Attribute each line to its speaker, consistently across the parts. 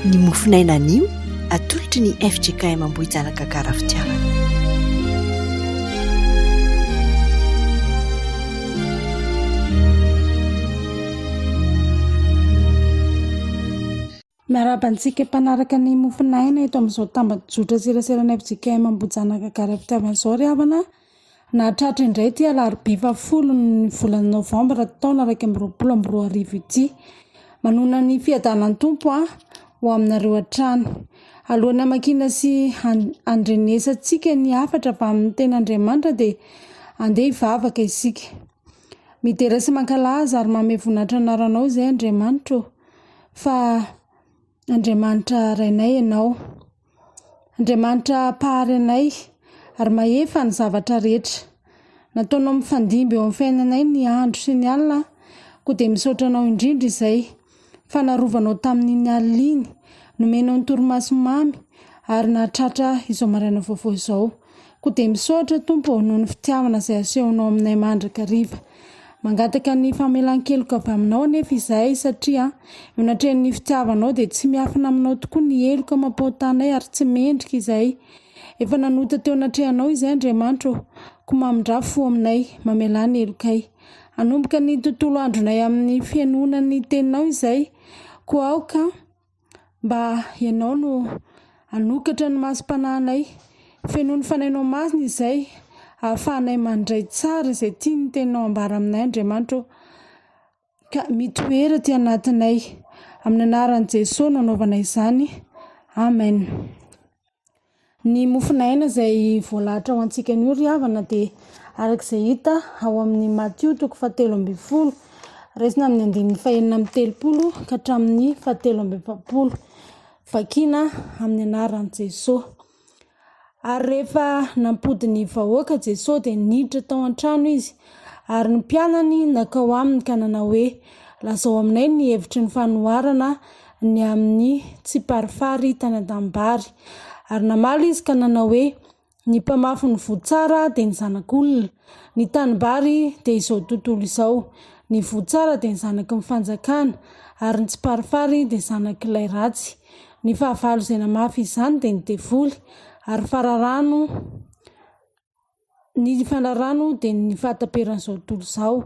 Speaker 1: Ny mofon'aina anio atolotry ny fjkm Ambohijanaka Karafitiavana.
Speaker 2: Miarahaba antsika mpanaraka ny mofon'aina eto amin'izao tambajotra seraseran'ny fjkm Ambohijanaka Karafitiavana izao ry havana. Nahatratra indray ity alarobia faha folo ny volana novambra taona iraika amby roapolo amby roa arivo ity. Manohana ny fiadanan'ny Tompo aho ho aminareo hatrany. Alohan'ny hamakiana sy handrenesantsika ny hafatra avy amin'ny Tenin'Andriamanitra dia andeha hivavaka isika. Midera sy mankalaza ary manome voninahitra ny anaranao izahay Andriamanitra ô, fa Andriamanitra Rainay ianao. Andriamanitra Mpahary anay, ary mahefa ny zavatra rehetra. Nataonao mifandimby eo amin'ny fiainanay ny andro sy ny alina, koa dia misaotra anao indrindra izay, fa narovanao tamin'iny alina iny, nomenao ny torimaso mamy, ary nahatratra izao maraina vaovao izao. Koa dia misaotra Tompo ô noho ny fitiavana izay asehonao aminay mandrakariva. Mangataka ny famelan-keloka avy aminao anefa izahay satria eo anatrehan'ny fitiavanao dia tsy miafina aminao tokoa ny heloka mampahotanay ary tsy mendrika izahay. Efa nanota teo anatrehanao izahay Andriamanitra ô, koa mamindrà fo aminay, mamelà ny helokay. Hanomboka ny tontolo andronay amin'ny fihenoana ny teninao izahay, koa aoka. Mba Ianao no hanokatra ny masom-panahinay, fenoy ny fanahinao masina izay ahafahanay mandray tsara izay tian'ny Teninao hambara aminay Andriamanitra ô. Ka mitoera aty anatinay, amin'ny anaran'i Jesoa no anaovana izany, Amen. Ny mofon'aina izay voalahatra ho antsika anio ry havana dia araka izay hita ao amin'ny Matio toko fahatelo ambin'ny folo, raisina amin'ny andininy fahenina amby telopolo ka hatramin'ny fahatelo amby efapolo, vakiana amin'ny anaran'i Jesoa. Ary rehefa nampody ny vahoaka Jesoa dia niditra tao an-trano izy ary ny mpianany nankao aminy ka nanao hoe, lazao aminay ny hevitry ny fanoharana. ny amin'ny tsiparifaritana an-tanimbary. Ary namaly izy ka nanao hoe, Ny mpamafy ny voa tsara dia ny Zanak'olona. Ny tanimbary dia izao tontolo izao. Ny voa tsara dia ny zanaky ny fanjakana, ary ny tsiparifary dia zanak'ilay ratsy. Ny fahavalo izay namafy izany dia ny devoly, ary fararano. ny fanarano dia ny fahataperan'izao tontolo izao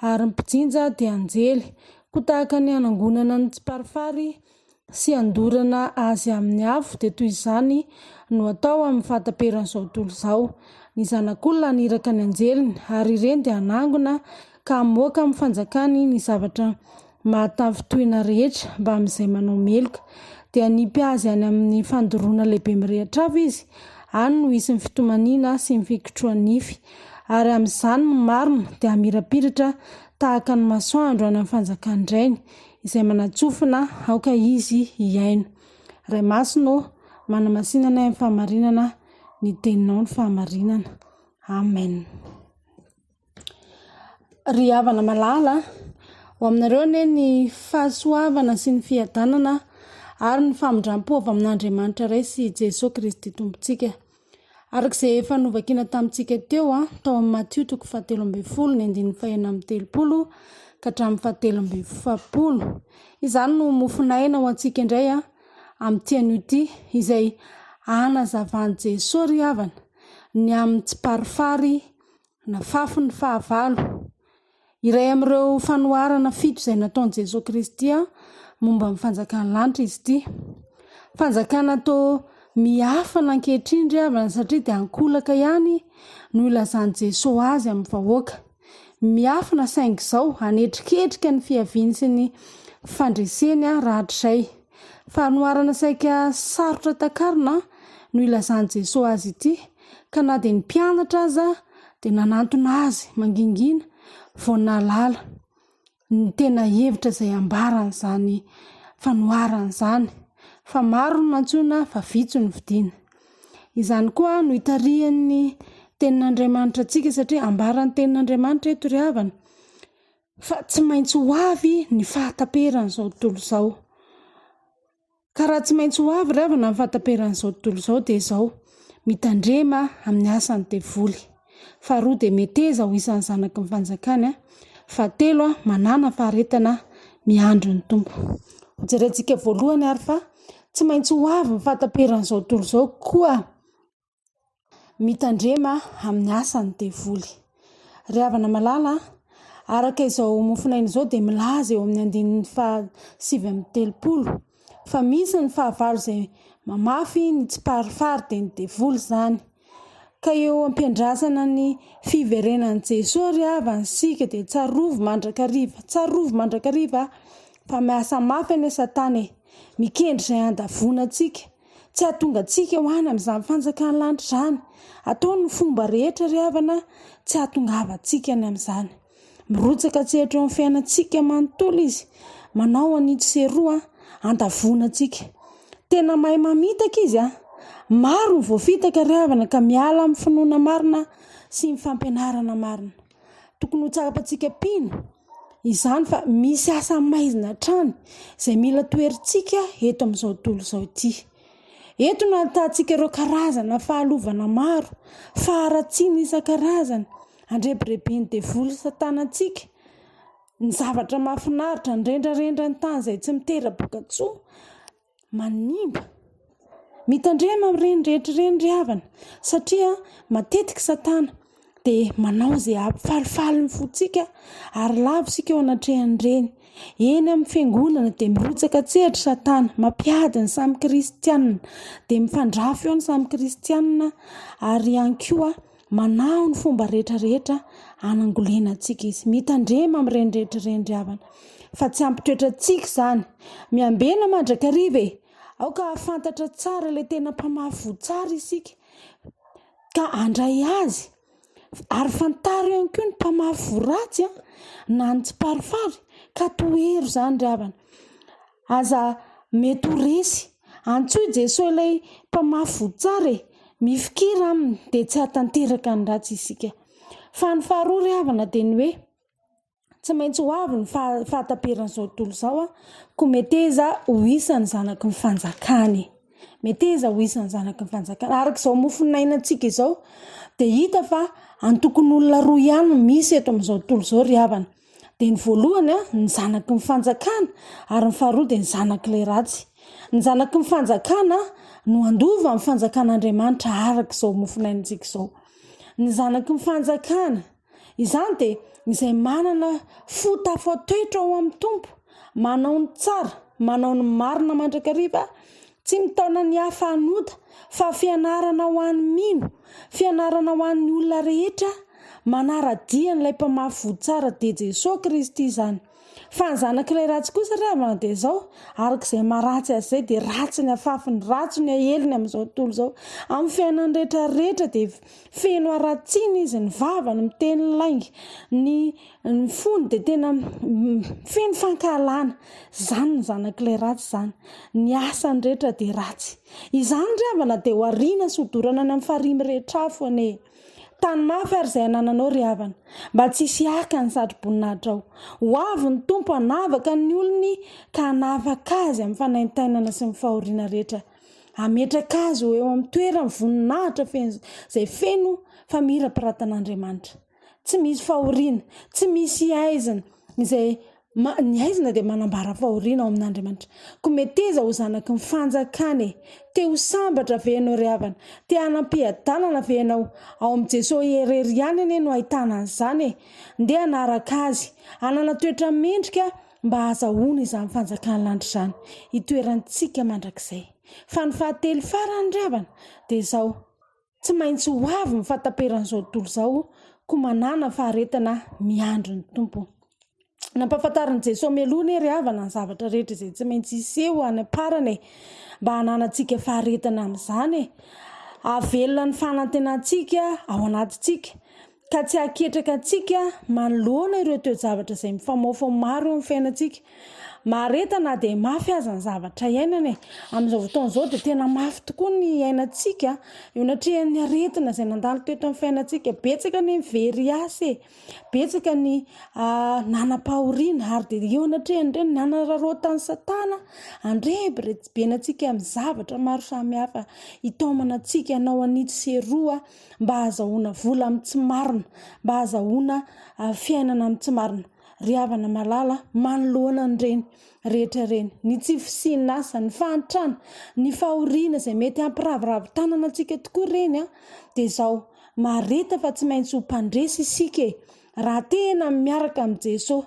Speaker 2: ary ny mpijinja dia anjely, koa tahaka ny hanangonana ny tsiparifary sy handorana azy amin'ny afo dia toy izany no atao amin'ny fahataperan'izao tontolo izao, ny zanak'olona haniraka ny anjeliny ary ireny dia hanangona ka hamoaka amin'ny fanjakany ny zavatra mahatavy tohina rehetra mbamin'izay manao meloka. Dia hanipy azy any amin'ny fandoroana lehibe mirehitra avy izy, any no hisy ny fitomaniana sy ny fikotroha-nify. Ary amin'izany ny marina dia hamirapiratra tahaka ny masoandro any amin'ny fanjakan'ny Rainy, izay manatsofina aoka izy hihaino. Ray Masina ô! Manamasina anay amin'ny fahamarinana ny Teninao ny fahamarinana. Amen. Ry havana malala a! Ho aminareo anie ny fahasoavana sy ny fiadanana ary ny famindram-po avy amin'Andriamanitra Ray sy i Jesoa Kristy Tompontsika. Araka izay efa novakina tamintsika teo tao amin'ny Matio toko fahatelo ambin'ny folo ny andininy fahenina amby telopolo ka hatramin'ny fahatelo amby efapolo. Izany no mofon'aina ho antsika indray amin'ity anio ity izay hanazavan'i Jesoa ry havana ny amin'ny tsiparifary Nafafy ny fahavalo. Iray amin'ireo fanoharana fito izay nataon'i Jesoa Kristy momba ny fanjakan'ny lanitra izy ity. Fanjakana to miafina ankehitriny ry havana satria dia ankolaka ihany no ilazan'i Jesoa azy amin'ny vahoaka. Miafina saingy izao hanetriketrika ny fiaviany sy ny fandreseny rahatrizay. Fanoharana saika sarotra takarina no ilazan'i Jesoa azy ity. ka na dia ny mpianatra aza dia nanantona azy mangingina vao nahalala ny tena hevitra izay ambaran'izany fanoharana izany fa maro no nantsoina fa vitsy no vidiana. Izany koa no itarihan'ny tenin'Andriamanitra antsika satria ambaran'ny tenin'Andriamanitra eto ry havana fa tsy maintsy ho avy ny fahataperan'izao tontolo izao. Ka raha tsy maintsy ho avy ry havana ny fahataperan'izao tontolo izao dia izao, mitandrema amin'ny asan'ny devoly. Faharoa dia meteza ho isan'ny zanaky ny fanjakany. Fahatelo, manana faharetana miandry ny Tompo. Ho jerentsika voalohany ary fa tsy maintsy ho avy ny fahataperan'izao tontolo izao koa. mitandrema amin'ny asan'ny devoly. Ry havana malala, araka izao mofonaina izao dia milaza eo amin'ny andininy faha sivy amby telopolo fa misy ny fahavalo izay mamafy ny tsiparifary dia ny devoly izany. Ka eo am-piandrasana ny fiverenan'i Jesoa ry havana isika dia tsarovy mandrakariva, tsarovy mandrakariva fa miasa mafy anie Satana e, mikendry izay handavoana antsika. Tsy hahatonga antsika ho any amin'izany fanjakan'ny lanitra izany. Ataony ny fomba rehetra ry havana tsy hahatongavantsika any amin'izany. Mirotsaka an-tsehatra eo amin'ny fiainantsika manontolo izy. Manao an'itsy sy eroa handavoana antsika. Tena mahay mamitaka izy an! Maro ny voafitaka ry havana ka miala amin'ny finoana marina sy ny fampianarana marina. Tokony ho tsara-pantsika mpino izany fa misy asa maizina hatrany izay mila toherintsika eto amin'izao tontolo izao ity. Eto no ahitantsika ireo karazana fahalovana maro, faharatsiana isan-karazany, andrebireben'ny devoly satana antsika, ny zavatra mahafinaritra, ny rendrarendran'ny tany izay tsy mitera-bokatsoa. manimba. Mitandrema amin'ireny rehetra ireny ry havana satria matetika satana dia manao izay hampifalifaly ny fontsika ary lavo isika eo anatrehan'ireny. Eny amin'ny fiangonana dia mirotsaka an-tsehatra satana, mampiady ny samy kristiana, dia mifandrafy eo ny samy kristiana ary ihany koa Manahy ny fomba rehetra rehetra hanangolena antsika izy. Mitandrema amin'ireny rehetra ireny ry havana. Fa tsy hampitoetra antsika izany. Miambena mandrakariva e. Aoka hahafantatra tsara ilay tena mpamafy voa tsara isika. Ka handray azy. Ary fantaro ihany koa ny mpamafy voa ratsy na ny tsiparifary. Ka tohero izany ry havana. Aza mety ho resy. Antsoy i Jesoa ilay Mpamafy voa tsara e! Mifikira Aminy dia tsy hahatanteraka ny ratsy isika. Fa ny faharoa ry havana dia ny hoe, tsy maintsy ho avy ny fahataperan'izao tontolo izao an, koa meteza ho isan'ny zanaky ny fanjakany. Meteza ho isan'ny zanaky ny fanjakany. Araka izao mofo nainantsika izao dia hita fa antokon'olona roa ihany no misy eto amin'izao tontolo izao ry havana. dia ny voalohany ny zanaky ny fanjakana ary ny faharoa dia ny zanak'ilay ratsy. Ny zanaky ny fanjakana no handova amin'ny fanjakan'Andriamanitra araka izao mofonaintsika izao. Ny zanaky ny fanjakana izany dia izay manana fo tafatoetra ao amin'ny Tompo, manao ny tsara, manao ny marina mandrakariva Tsy mitaona ny hafa hanota, fa fianarana ho an'ny mino, fianarana ho an'ny olona rehetra manara-dia an'ilay Mpamafy voa tsara dia Jesoa Kristy izany. Fa ny zanak'ilay ratsy kosa re havana dia izao, araka izay maharatsy azy izay dia ratsy ny afafy, ny ratso ny aeliny amin'izao tontolo izao. Amin'ny fiainany rehetra rehetra dia feno haratsiana izy, ny vavany miteny lainga, ny ny fony dia tena feno fankahalana izany ny zanak'ilay ratsy izany ny asany rehetra dia ratsy izany ry havana dia ho ariana sy hodorana any amin'ny farihy mirehitra afo anie tany mafy ary izay anananao ry havana mba tsy hisy haka ny satroboninahitra ao ho avy ny tompo hanavaka ny olony ka hanavaka azy amin'ny fanaintainana sy ny fahoriana rehetra hametraka azy ho eo amin'ny toerany voninahitra feno izay feno famirapiratana andriamanitra tsy misy fahoriana, tsy misy haizina izay ma, ny haizina dia manambara fahoriana ao amin'Andriamanitra. Koa meteza ho zanaky ny fanjakana e! Te ho sambatra ve ianao ry havana? Te hanam piadanana ve ianao? Ao amin'i Jesosy irery ihany anie no ahitana an'izany e! Ndeha hanaraka Azy, hanana toetra mendrika mba hahazahoana izany fanjakan'ny lanitra izany, hitoerantsika mandrakizay. Fa ny fahatelo farany ry havana dia izao, Tsy maintsy ho avy ny fahataperan'izao tontolo izao, koa manàna faharetana miandry ny Tompo. Nampahafantarin'i Jesoa mialoha anie ry havana ny zavatra rehetra izay tsy maintsy hiseho any am-parany e, mba hananantsika faharetana amin'izany e. Hahavelona ny fanantenantsika ao anatintsika, ka tsy hahaketraka antsika manoloana ireo toe-javatra izay mifamaofao maro eo amin'ny fiainantsika. Mahareta na dia mafy aza ny zavatra iainana e. Amin'izao fotoana izao dia tena mafy tokoa ny iainantsika eo anatrehan'ny aretina izay nandalo teto amin'ny fiainantsika. Betsaka ny very asa e, betsaka ny nanam-pahoriana ary dia eo anatrehan'ireny nanararaotan'i Satana andrebirebibenantsika amin'ny zavatra maro samihafa hitaomana antsika hanao an'itsy sy eroa mba hahazahoana vola amin'ny tsy marina, mba hahazahoana fiainana amin'ny tsy marina. Ry havana malala, manoloana an'ireny rehetra ireny, ny tsy fisian'asa, ny fahantrana, ny fahoriana izay mety hampiraviravy tanana antsika tokoa ireny dia izao, marihita fa tsy maintsy ho mpandresy isika e! Raha tena miaraka amin'i Jeso.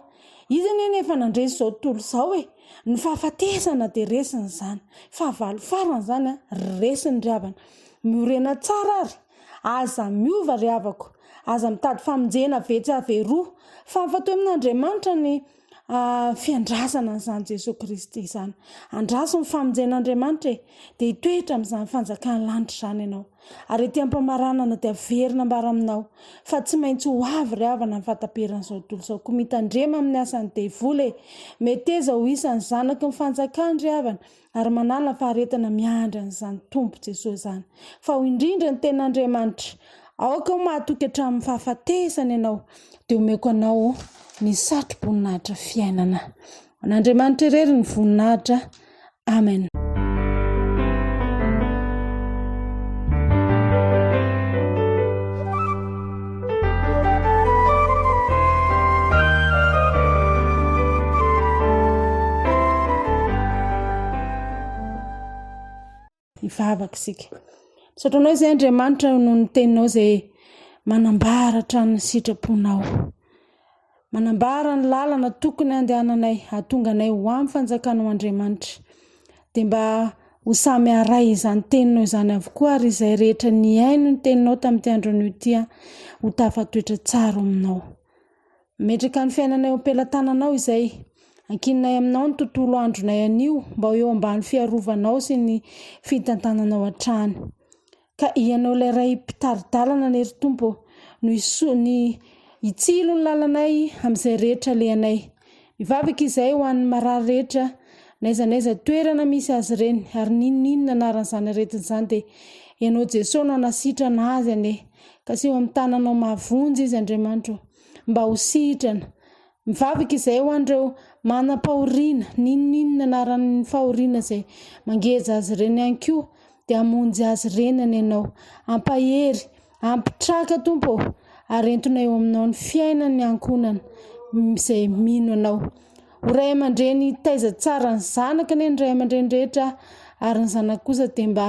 Speaker 2: Izy anie no efa nandresy izao tontolo izao e! Ny fahafatesana dia resiny izany. Fahavalo farany izany an! Resiny ry havana. Miorena tsara ary. Aza miova ry havako. Aza mitady famonjena vetsy avy eroa. Fa afa-teo amin'Andriamanitra ny fiandrasana an'izany Jesoa Kristy izany. Andraso ny famonjen'Andriamanitra e! Dia hitoetra amin'izany fanjakan'ny lanitra izany ianao. Ary ety am-pamaranana dia haverina ambara aminao fa tsy maintsy ho avy ry havana ny fahataperan'izao tontolo izao. Koa mitandrema amin'ny asan'ny devoly e! Meteza ho isan'ny zanaky ny fanjakany ry havana. ary manala faharetana miandry an'izany Tompo Jesoa izany. Fa ho indrindra ny tena Andriamanitra, aoka ho mahatoky hatramin'ny fahafatesana ianao, dia omeko anao ny satroboninahitra fiainana. An'Andriamanitra irery ny voninahitra. Amen. Hivavaka isika. Misaotra anao izay Andriamanitra noho ny teninao izay manambara hatrany ny sitraponao. Manambara ny lalana tokony handehananay hahatonga anay ho amin'ny fanjakanao Andriamanitra. Dia mba ho samy haray izany teninao izany avokoa ary izay rehetra nihaino ny teninao tamin'ity andro anio ity ho tafatoetra tsara ao aminao. Mametraka ny fiainanay eo am-pelatananao izay. Ankininay aminao ny tontolo andronay anio mba ho eo ambany fiarovanao sy ny fitantananao hatrany. Ka Ianao ilay Ray Mpitari-dalana anie ry Tompo ô, no hiso, ny hitsilo ny lalanay amin'izay rehetra alehanay. Mivavaka izahay ho an'ny marary rehetra, n'aiza n'aiza toerana misy azy ireny, ary n'inon'inona anaran'izany aretina izany, dia Ianao Jesoa no hanasitrana azy anie. Kaseho amin'ny tananao mahavonjy izy, Andriamanitra ô, mba ho sitrana. Mivavaka izay ho an'ireo manam-pahoriana, n'inon'inona anaran'ny fahoriana izay mangeja azy ireny ihany koa, dia hamonjy azy ireny any Ianao. Ampahery, ampitraka, Tompo ô, ary entina eo Aminao ny fiainan'ny ankohonana izay mino Anao. Ho ray aman-dreny hitaiza tsara ny zanaka anie ny ray aman-dreny rehetra, ary ny zanaka kosa dia mba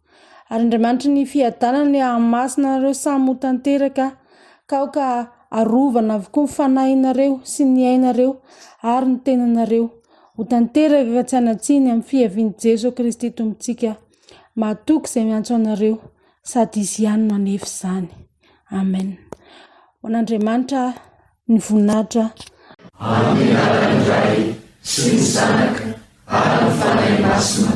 Speaker 2: Ary Andriamanitry ny fiadanana ny hahamasina anareo samy ho tanteraka, ka aoka arovana avokoa ny fanahinareo sy ny ainareo ary ny tenanareo ho tanteraka ka tsy hanatsiny amin'ny fiavian'i Jeso Kristy Tompontsika. Mahatoky izay miantso anareo sady Izy ihany no hanefa izany. Amen. Ho an'Andriamanitra ny voninahitra. Amin'ny
Speaker 3: anaran'ny Ray sy ny Zanaka ary ny Fanahy Masina.